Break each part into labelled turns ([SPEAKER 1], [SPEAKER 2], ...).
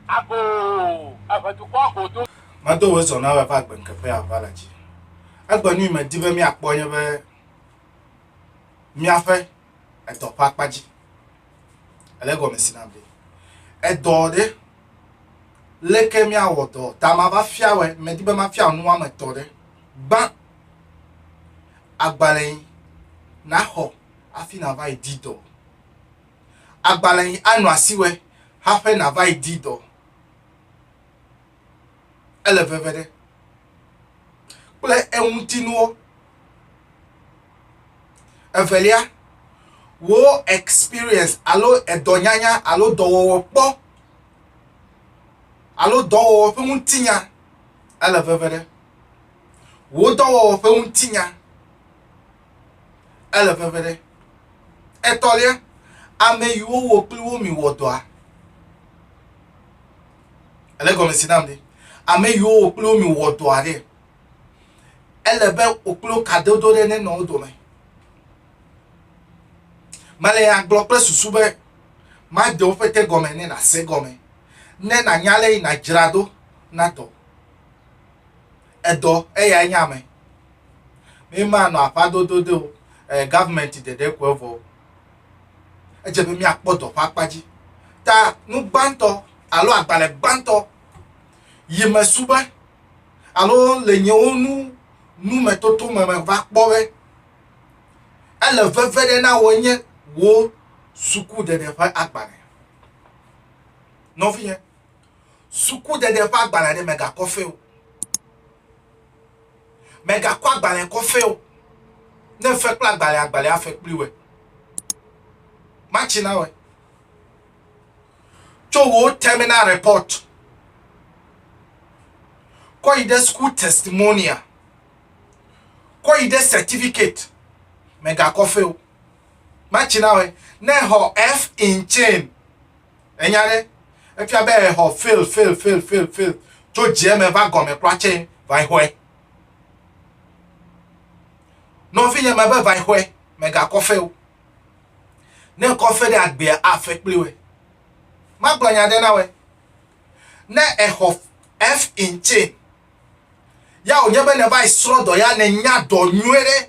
[SPEAKER 1] Ago eve dukɔ godo. Medo wò zɔ na wò
[SPEAKER 2] eƒe agbenkeƒe aʋa le dzi. Egbe nui medi be míakpɔ nye be míaƒe edɔ ƒe akpa dzi. Ele gɔme si na be edɔ ɖe leke míawɔ dɔ ta mava fia wɔ medi be mafia nu wɔame etɔ̃ ɖe gbã agbalẽ naxɔ afi nava yi di dɔ. agbalẽ yi anɔ asiwɔe haƒe nàva yi di dɔ. Ele veve ɖe kple eŋutinuwo. Evelia, wò experience alo edɔnyanya alo dɔwɔwɔ kpɔ alo dɔwɔwɔ ƒe ŋutinya ele veve ɖe. Wò dɔwɔwɔ ƒe ŋutinya. Ele veve ɖe. Etɔ̃lia, ame yiwo wò kpli wo mi wɔ dɔa. Ele gɔme si nam ɖe. Ame yiwo wò kpli wo mi wɔ dɔa ɖe. Ele be wò kpli wo kadodo ɖe ne nɔ wo dome. Mele ya gblɔ kple susu be made woƒe te gɔme ne nàse gɔme, ne nànya ale yi nàdzra ɖo na dɔ. Edɔ eyae nye ame. Mi ma nɔ aƒa dodo de o. Eh, government ɖeɖe ko evɔ. Edze be miakpɔ dɔ ƒe akpa dzi. Ta nu gbãtɔ alo agbalẽ gbãtɔ yi me su be alo le nyewo nu nu me toto me me va kpɔ be ele veve ɖe na wò nye wò suku ɖeɖe ƒe agbalẽ. Nɔvinye. Sukudede ƒe agbalẽ ɖe mègakɔ fɛ o. Mègakɔ agbalẽ kɔ fɛ o. Ne fe kple agbalẽ, agbalẽ afe kpli wɛ. Matsi na wɛ. Tso wò terminal report kɔ yi ɖe school testimonial, kɔ yi ɖe certificate, mègakɔ fɛ o. Matsi na wɛ. Ne xɔ F in chain, Ènya ɖe? Efia be exɔ fail, fail, fail, fail, fail. Tso dze me va gɔme kura tse va xɔe. Nɔvinye me be va xɔe, mègakɔ fe o. Ne kɔ fe ɖe agbea afe kpli wɛ. Magblɔ nya ɖe na wɛ. Ne exɔ F in tse, ya wònye be ne va srɔ dɔ ya ne nya dɔ nyuie ɖe.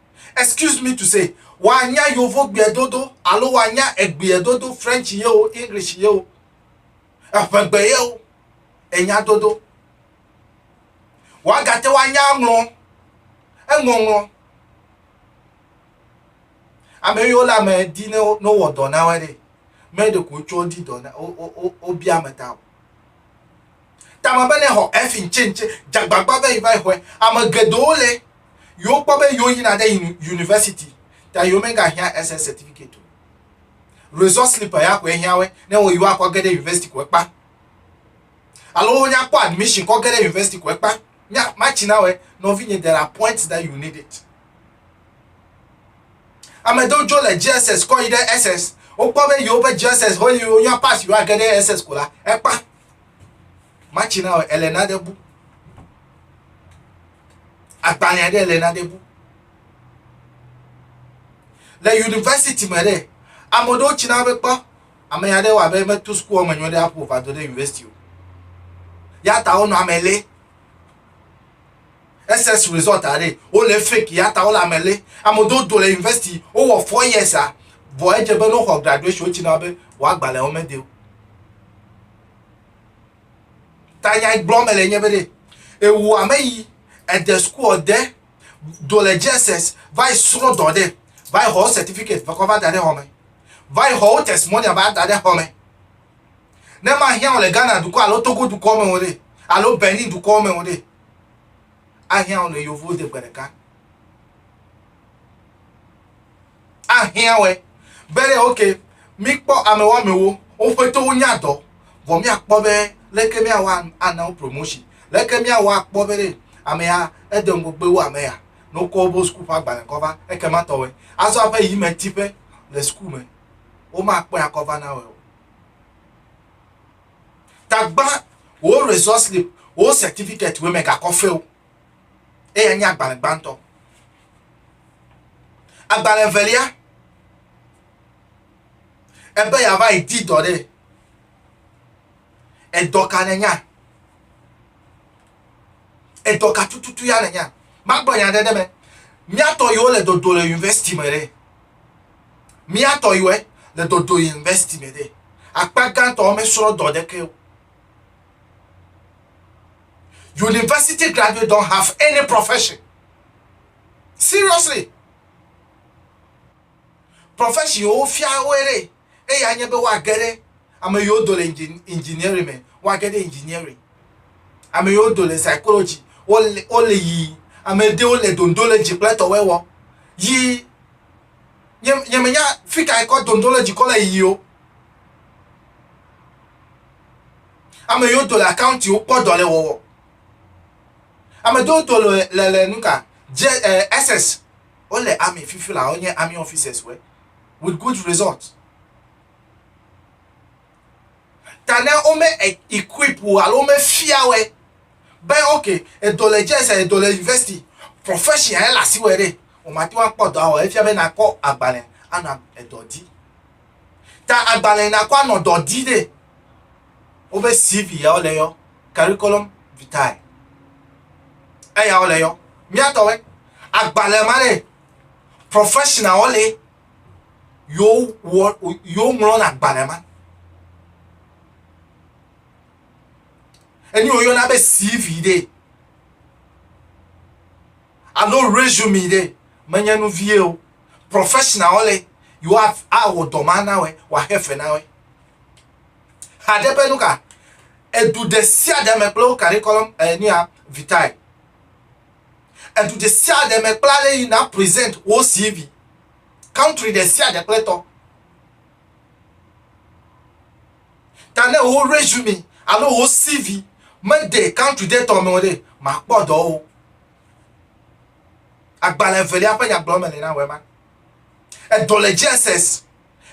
[SPEAKER 2] Excuse me to say, wòanya Yovogbeɛ dodo alo wòanya Egbeɛ dodo, French ye o, English ye o, Eƒegbe ye o, enya dodo. Wòagate ŋu anya aŋlɔ eŋɔŋlɔ. Ame yiwo le ame di ne wowɔ dɔ na woe ɖe, mɛ ɖeko wotsɔ di dɔ na, wobia ame ta o. tame be ne xɔ efi ŋtsɛ ŋtsɛ dzagbagba be yi va yi xɔɛ ame geɖewo le yewo kpɔ be yewo yina ɖe university ta yewo mega hia SS certificate o resort slipper ya koe hia we ne wo yewo akɔ ge ɖe university koe kpa alo wo nya kpɔ admission kɔ ge ɖe university koe kpa nya matsi na we nɔvi nye there are points that you need it Ame aɖewo dzo le JSS kɔ yi ɖe SS. Wokpɔ be yewoƒe JSS ho eye wonya pas yewoage ɖe SS ko la, ekpa. Matsi na o, Elena ɖe bu. Agbalẽ aɖe Elena ɖe bu. Le yunivɛsiti me ɖe, ame aɖewo tsi na be kpɔ ame ya ɖe wɔ abe metu sukua me nyɔ ɖe aƒo va do ɖe yunivɛsiti o. Ya ta wonɔ ame lé. SS result aɖe wole fake yata wole ame lé ame do do le university wowɔ four years a vɔ edze be no xɔ graduation wotsi na be wòa gbalẽ wo mede o ta nya gblɔ me le nye be ɖe ewu ame yi ede school ɔde do le JSS va yi srɔ dɔ ɖe va yi xɔ certificate va kɔ va da ɖe xɔ me va yi xɔ wo testimonial va da ɖe xɔ me Ne mahiã wò le Ghana dukɔ alo Togo dukɔ me o ɖe, alo Benin dukɔ me o ɖe, ahiã wò le Yovo de gbe ɖeka. Ahiã wòe be ɖe ok, míkpɔ ame woamewo woƒe towo nya dɔ, vɔ míakpɔ be leke míawɔ ana wo promotion, leke míawɔ akpɔ be ɖe amea ede ŋgɔgbe wu ame ya ne wokɔ woƒe suku ƒe agbalẽ kɔ va, ekema tɔwɔe. Azɔ aƒe yi me tiƒe le suku me. womakpɔe akɔ va na wòe o. Tagba wò result slip, wò certificate wòe megakɔ feo. Eya nye agbalẽ gbãtɔ. Agbalẽ evelia, ebe yeava yi di dɔ ɖe. Edɔ ka nènya? Edɔ ka tututu ya nènya? Magblɔ nya aɖe ɖe eme. Mía tɔ yiwo le dodo le yunivɛsiti me ɖe, mía tɔ yiwo le dodo le yunivɛsiti me ɖe, akpa gãtɔ womesrɔ̃ dɔ ɖeke o. University graduates don't have any profession. Seriously. Profession wofia woe ɖe. eye anye be woage ɖe ame yiwo do le engineering me, woage ɖe engineering. Ame yiwo do le psychology, wole, wole yi ame ɖewo le dondo le dzi kple tɔwɔe wɔ. Yi nye, nye menya fi ka ekɔ dondo le dzi kɔ le yi o. Ame yiwo do le accounting wo kpɔ dɔ le wɔwɔ. Ame ɖewo do le le le nuka, je, eh, SS, wole army fifi la, wonye army officers wɔ. with good result. Ta ne wome e- equip wò alo womefia wɔe be ok edɔ le JS edɔ le university profession ele asi wɔe ɖe o mate ŋu akpɔ dɔa wɔ efia be nakɔ agbalẽ anɔ edɔ di. Ta agbalẽ nakɔ anɔ dɔ di ɖe woƒe CV ya wole yɔ curriculum vitae eya wole yɔ miatɔwɔe agbalẽ ma ɖe professional le yo wɔ yo ŋlɔ na gbalẽ ma enyo yo na be CV ɖe alo resume ɖe menye nu vie o professional le yo awɔ dɔ ma na wɔ wɔ axe fe na wɔ haɖe ƒe nuka edu ɖe sia ɖe me kple wo kari kɔlɔm enia vitae Edu ɖesiaɖe me kpla ale yi na present wo CV. Country ɖesiaɖe kple tɔ. Ta ne wo resume alo wo CV mede country ɖe tɔ me o ɖe, màkpɔ dɔ o. Agbalẽ evelia ƒe nyagblɔɖi me li na wema. Edɔ le JSS.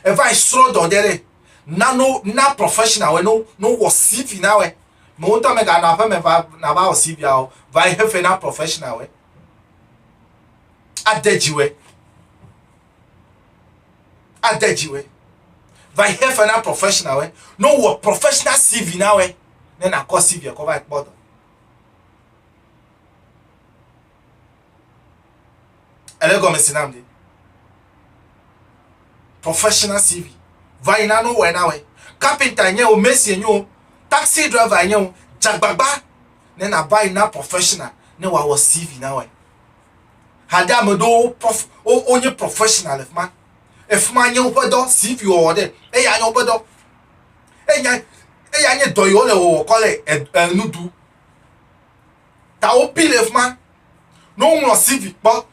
[SPEAKER 2] Eva yi srɔ dɔ ɖe ɖe. Na no na professional wɛ no no wɔ CV na wɛ. Me wotɔ me ga nɔ aƒe me va na va wɔ CV a o. Va yi hefe na professional wɛ. Ade dzi wɛ. Ade dzi wɛ. Va yi hefe na professional wɛ. No wɔ professional CV na wɛ. Ne na kɔ CV kɔ va kpɔ dɔ. Ele gɔme si nam ɖi. Professional CV. Va yi na no wɔ na wɔ. Carpenter nye o, mason nye o, taxi driver nye o, dzagbagba ne na va yi na professional ne wa wɔ CV na wɔ. Hade ame do wo prof o o nye professional le fuma. E fuma nye woƒe dɔ CV wɔ wɔ de. E ya nye woƒe dɔ. E nya e ya nye dɔ yi wo le wɔ wɔ kɔ le e e nudu. ta wopi ɖe fima ne woŋlɔ CV kpɔ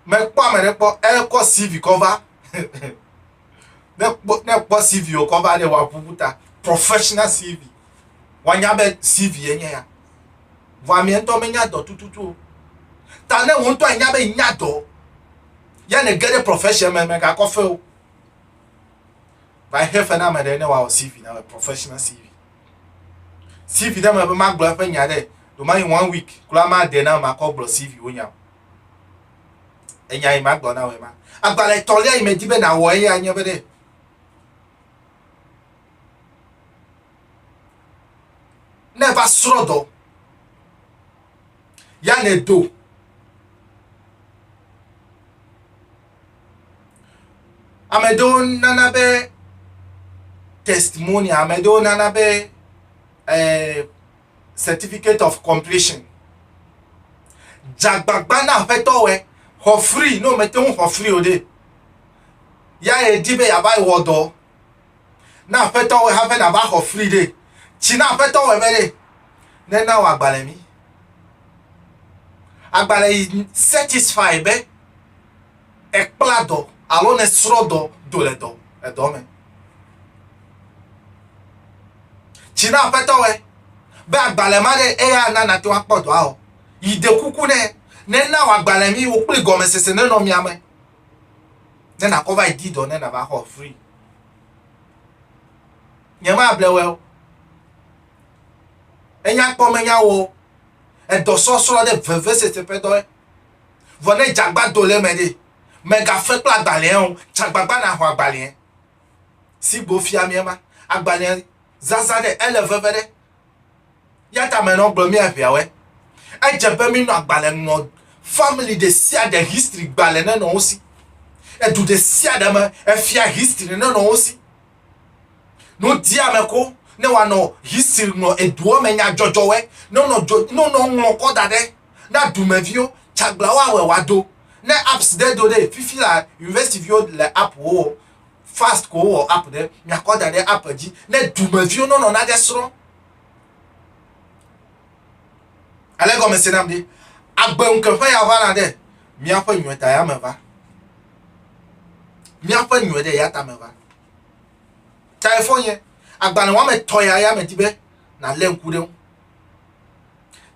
[SPEAKER 2] mekpɔ ame ɖe kpɔ ekɔ CV kɔ va ne kpɔ ne kpɔ CV wokɔ va ɖe woaƒuƒu ta professional CV woanya be CV ye nye ya vɔ amea ŋutɔ menya dɔ tututu o ta ne wo ŋutɔ anya be nya dɔ ya ne ge ɖe profession me megakɔ fe o va xe fe na ame ɖe ne wawɔ CV na professional CV CV ɖe me be magblɔ eƒe nya ɖe, ɖewomayi one week kura made nam makɔ gblɔ CV wo nya o. Enya yi magblɔ na wòe ma. Agbalẽ etɔ̃lia yi medi be nàwɔ eya nye be ɖe, ne va srɔ̃ dɔ, ya nèdo Ame ɖewo nana be testimony, ame ɖewo nana be eh, certificate of completion. Dzagbagba na aƒetɔ wɛ, xɔ free, no mete ŋu xɔ free o ɖe. Ya yedi be yava wɔ dɔ. Na Aƒetɔ wɔe hafi nàva xɔ fli ɖe. Tsi na Aƒetɔ wɔe be ɖe nena wòagbalẽ mí. Agbalẽ yi satisfy be èkpla dɔ alo nèsrɔ̃ dɔ do le dɔ edɔ me. Tsi na Aƒetɔ wɔe be agbalẽ ma ɖe eya ana nate ŋu akpɔ dɔa o. Yi ɖe kuku nɛ. Nena wòagbalẽ mí wò kple gɔmesese nenɔ mía me. ne nakɔ va yi di dɔ ne nava xɔ free. Nye ma ble wɛ o. Enya kpɔ me nya wo. Edɔ sɔsrɔ ɖe veve sese ƒe dɔ. Vɔ ne jagba do le me ɖe. Me ga fe kple agbalẽ o. Jagbagba na xɔ agbalẽ. Si gbo fia mi ema. Agbalẽ zaza ɖe ele veve ɖe. Ya ta me nɔ gblɔ mía ʋeawɛ. Edze be mí nɔ agbalẽ ŋlɔ family ɖe sia ɖe history gbalẽ ne nɔ wo si. Edu ɖe sia ɖe me efia history ne nɔ wo si. No dia me ko ne wa nɔ history ŋlɔ eduɔ me nya jɔjɔ wɛ ne nɔ jɔ ne nɔ ŋlɔ kɔ da ɖe na dumeviwo tsagla wa wɛ wa do ne apps ɖe do ɖe fifi la university viwo le app wo fast ko wowɔ app ɖe miakɔ da ɖe app dzi ne dumeviwo nɔnɔ na ge srɔ̃ ale gɔme se nam ɖi agbe ŋkeƒe ya va na ɖe míaƒe nyuie ta ya me va míaƒe nyuie ɖe ya ta me va tae fɔ nye agbalẽ wɔme tɔ ya ya me di be na lé ŋku ɖe ŋu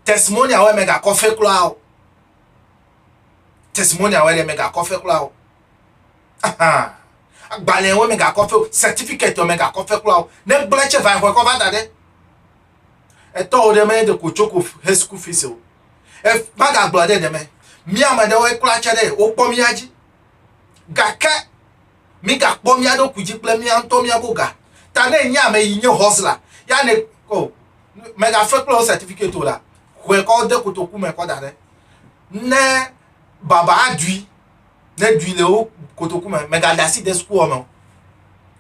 [SPEAKER 2] testimony awɔ mega kɔfe kura o testimony awɔ mega kɔfe kura o Ahan. Agbalẽ wo mega kɔ feo, certificate me ga kɔ fe kula o. Ne gblẽ tse va exɔ kɔ va da ɖe. Etɔ wo ɖe me de ko tsoko he school fees o. E maga gblɔ ɖe ɖe me. Mi ame ɖe wo kula tse ɖe wo kpɔ mi adzi. Gake mi ga kpɔ mi aɖo ku dzi kple mi antɔ mi abo ga. Ta ne nye ame yi nye hustler ya ne ko mega fe kula o certificate o la. Hwe kɔ de kotoku me kɔ da ɖe. Ne baba adui ne dui le wo kotoku me mègada asi de sukuxɔ me o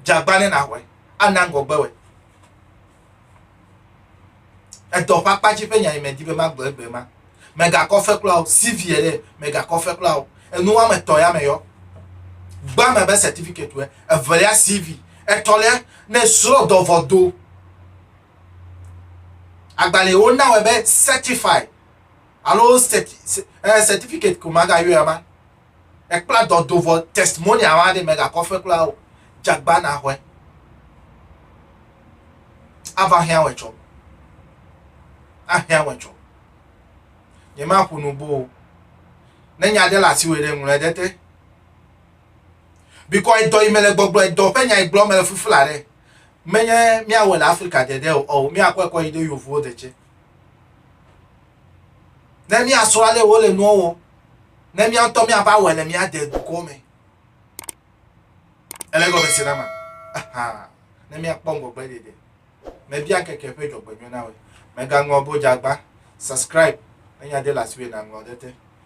[SPEAKER 2] dzagba ne naxɔe ana ŋgɔgbe wɔe edɔ ƒe akpa dzi ƒe nya yi medi be magblɔ egbe ma mègakɔ fe kura o cv yɛ ɖe mègakɔ fe kura o enu woame etɔ̃ ya me yɔ gba me be certificate wɛ evelia cv etɔ̃lia ne srɔ̃ dɔvɔ do agbalẽwo na wɛ be certified alo sɛti sɛ ɛɛ sɛtifikɛti ko magayɔe ama. Ekpla dɔ do vɔ tɛstimonial ma ɖe megakɔ fe kura o. Jagba naxɔe. Ava hiã wɛ tsɔ. Ahiã wɛ tsɔ. Nyemaƒo nu bo o. Ne nya ɖe le asiwò ɖe ŋlɔe ɖe te. Bikɔ edɔ yi me le gbɔgblɔ edɔ ƒe nya yi gblɔ me le fufula ɖe. Menye míawɔe le Afrika de ɖe o ɔo míakɔe kɔ yi ɖe yovowo de tsɛ. Ne míasrɔ̃ ale wole nuwo wɔ, ne mía ŋutɔ míava wɔe le mía dedukɔ me. Ele gɔme se na ma. Aha. Ne míakpɔ ŋgɔgbe ɖeɖe. Mebia keke ƒe dzɔgbenyɔ na wɔ. Megaŋlɔ bodzagba, subscribe, ne nya de le asiwò na ŋlɔ ɖe te.